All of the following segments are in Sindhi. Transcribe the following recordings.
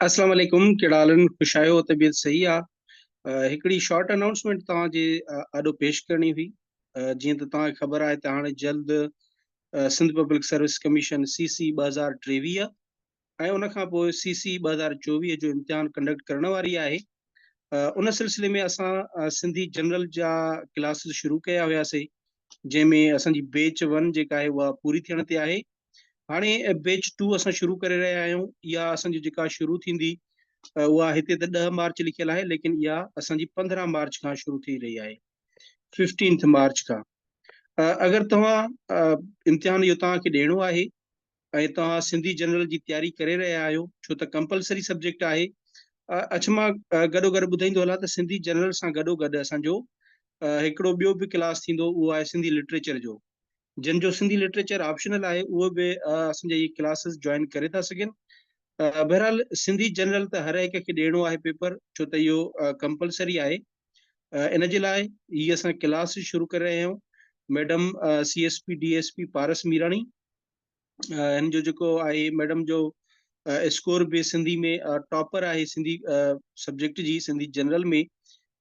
اسلام عليڪم ڪهڙا حال آهن خوش آهيو طبيعت صحيح آ هڪڙي شارٽ اناؤنسمينٽ توهان جي آڏو پيش ڪرڻي هئي جيئن ته توهان کي خبر آهي ته هاڻي جلد Sindh public service commission C C ٻه هزار ٽيويهه ۽ ان کان پوء سي سي ٻه هزار چوويهه جو امتحان ڪنڊڪٽ ڪرڻ واري آهي ان سلسلي ۾ اسان سنڌي جنرل جا ڪلاسز شروع ڪيا هياسين جنهن ۾ اسان جي بيچ ون جيڪا آهي اها پوري ٿيڻ تي آهي هاڻي بيچ ٽو اسان شروع ڪري رهيا آهيون اها اسان جي جيڪا شروع ٿيندي اها هتي ته ڏهه مارچ لکيل آهي ليڪن اها اسان جي پندرهن مارچ کان شروع ٿي رهي آهي ففٽينٿ مارچ کان اگر توهان امتحان جو توهان کي ڏيڻو آهي ۽ توهان سنڌي جنرل جي تياري ڪري رهيا آهيو ڇو ته ڪمپلسري سبجيڪٽ آهي اڇ مان گڏو گڏ ٻڌائيندو هلان ته سنڌي جنرل سان گڏو گڏ اسان جو هڪڙو ٻيو به ڪلاس ٿيندو اهو آهي سنڌي لٽريچر جو جن جو سنڌي لٽريچر آپشنل آهي اهو به اسان جا هي ڪلاسز جوائن ڪري ٿا سگهن بهرحال سنڌي جنرل ته هر هڪ کي ڏيڻو آهي پيپر ڇو ته اهو ڪمپلسري آهي ان جي لاء هي اسان ڪلاس شروع ڪري رهيا آهيون madam C S P D S P Paras Mirani هن جو جيڪو آهي ميڊم جو اسڪور به سنڌي ۾ ٽاپر آهي سنڌي سبجيڪٽ جي سنڌي جنرل ۾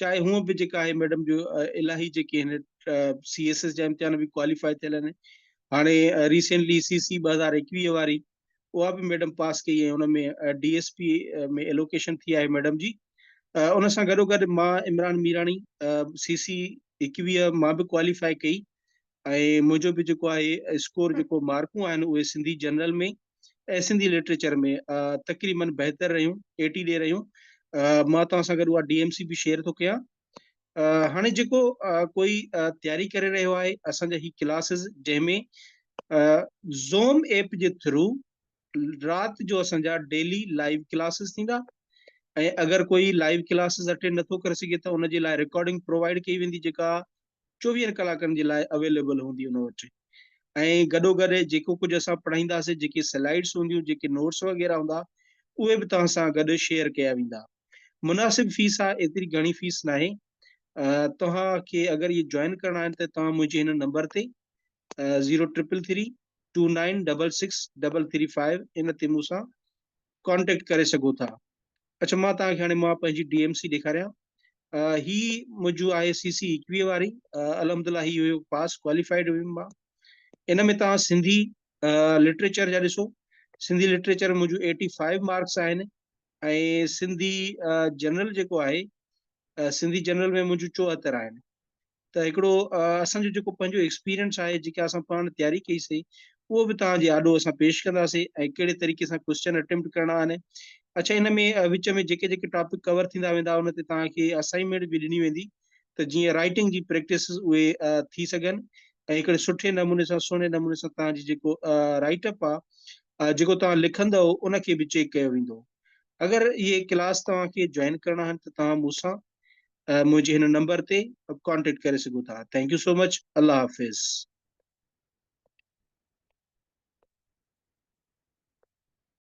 چاهي هونء به جيڪا آهي ميڊم جو الاهي جيڪي هن سي ايس ايس جا امتحان به ڪواليفائي ٿيل آهن هاڻي ريسنٽلي سي سي ٻه هزار ايڪويهه واري اها به ميڊم پاس ڪئي ۽ ان ۾ ڊي ايس پي ۾ ايلوڪيشن ٿي آهي ميڊم جي ان سان گڏوگڏ مان عمران ميراڻي سي سي ايڪويهه مان به ڪواليفائي ڪئي ۽ منهنجو به جيڪو آهي اسڪور جيڪو مارڪون آهن اهي سنڌي جنرل ۾ ۽ سنڌي لٽريچر ۾ تقريبا بهتر رهيون ايٽي ڏي رهيون مان توهان سان گڏ اها ڊي ايم سي به شيئر ٿو ڪيان هاڻي جيڪو ڪوئي تياري ڪري رهيو آهي اسان جا هي ڪلاسز جنهن ۾ زوم ايپ جي ٿرو رات جو اسان جا ڊيلي لائيو ڪلاسز ٿيندا ۽ اگر ڪوئي لائيو ڪلاسز اٽينڊ نٿو ڪري سگهي ته ان جي لاء رڪارڊنگ پرووائيڊ ڪئي ويندي جيڪا چوويهن ڪلاڪن جي لاء اويليبل هوندي ان وٽ ۽ گڏو گڏ جيڪو ڪجهه اسان پڙهائينداسين جيڪي سلائيڊس هونديون جيڪي نوٽس وغيره هوندا اهي به توهان سان گڏ شيئر ڪيا ويندا مناسب فيس آهي ايتري گهڻي فيس ناهي توهان کي اگر اهي جوائن ڪرڻا آهن ته توهان منهنجي هن نمبر تي zero triple three two nine double six double three five ان تي مون سان ڪانٽيڪٽ ڪري سگهو ٿا اڇا مان توهان کي هاڻي مان پنهنجي ڊي ايم سي ڏيکاريان هي منهنجو آهي سي سي ايڪوي واري الحمد لله هي هيو پاس ڪواليفائيڊ هيم مان ان ۾ توهان سنڌي لٽريچر جا ڏسو سنڌي لٽريچر منهنجو ايٽي فائيو مارڪس آهن ۽ سنڌي جنرل جيڪو آهي سنڌي جنرل ۾ منهنجو چوهتر آهن ته هڪڙو اسان جو جيڪو پنهنجو ايڪسپيرينس آهي جيڪا اسان پاڻ تياري ڪئي سي اهو به توهان جي آڏو اسان پيش ڪنداسي ۽ ڪهڙي طريقي سان ڪويشچن اٽيمپٽ ڪرڻا آهن اڇا ان ۾ وچ ۾ جيڪي جيڪي ٽاپڪ ڪور ٿيندا ويندا ان تي توهان کي اسائنمينٽ به ڏني ويندي ته جيئن رائٽنگ جي پريڪٽس اهي ٿي سگهن ۽ هڪڙي سٺي نموني سان سهڻي نموني سان توهان جي جيڪو رائٽ اپ آهي جيڪو توهان لکندو ان کي به چيڪ ڪيو ويندو اگر اهي ڪلاس توهان کي جوائن ڪرڻا آهن ته توهان مون سان منهنجي هن نمبر تي ڪانٽيڪٽ ڪري سگهو ٿا ٿينڪ يو سو مچ الله حافظ